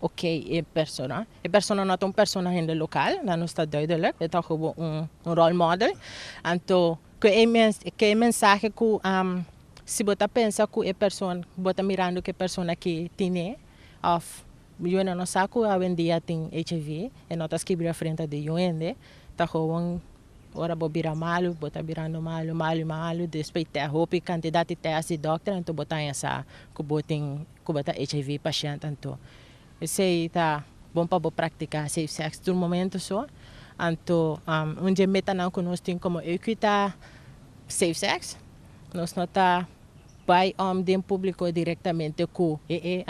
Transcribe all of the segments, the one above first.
Ok, e persona, e persona no ta un persona hende local, nan nos ta duidelijk, e ta kobo un un role model, anto ke e mens ke e mensahe ku si bo ta pensa ku e persona bo ta mirando ku e persona ke tine of yu nan no sa ku awendia tin HIV e no ta skibri afrenta di yu hende, ta kobo ora bo bira malu bo ta birando malu malu malu despues te hopi kantidat di te asi dokter anto bo ta haña sa ku bo tin Cuba ta hiv pashent anto esey ta bon pa bo practica safe sex tur momento so anto un dje metanan cu nos tin como EUCUI ta safe sex nos no ta bay om den publico directamente cu ee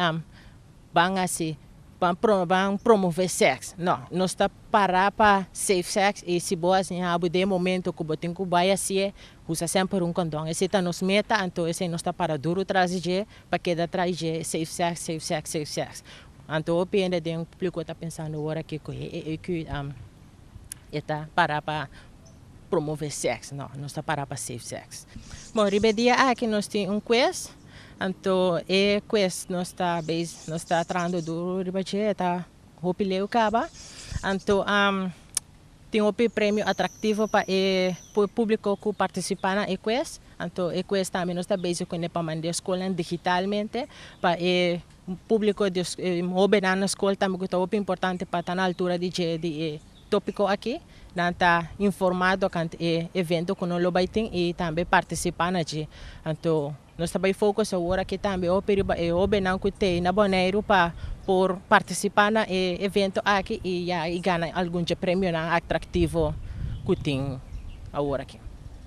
ban haci ban ban promove sex no nos ta para pa safe sex y si bo haci abo den momento cu bo tin cu bay hacie Usa semper un kondon. Esei ta nos meta, anto esei nos ta para duru tras di dje pa keda tras dje, safe sex, safe sex, safe sex. Anto hopi hende den publiko ta pensando ora aki ku e EEQ e ta para pa promove sex. No, nos ta para pa safe sex. Bon, riba e dia aki nos tin un kwes, anto e kwes nos ta beis, nos ta trahando duru riba dje, e ta hopi leu kaba. Anto. Tin hopi premio atraktivo pa e públiko ku partisipá na e kwes. Anto e kwes tambe nos ta bezig ku ne pa manda e skolnan digitalmente pa e públiko di e hóbennan na skol tambe ku ta hopi importante pa ta na altura di dje di e tópiko akí nan ta informá tokante e evento ku no lo bai tin i tambe partisipá na dje. Anto Nos ta bai focus awor aki tambe hopi riba e hobennan cu t'e na Boneiru pa por participa na e evento aki y ya y gana algun dje premionan atractivo cu tin awor aki.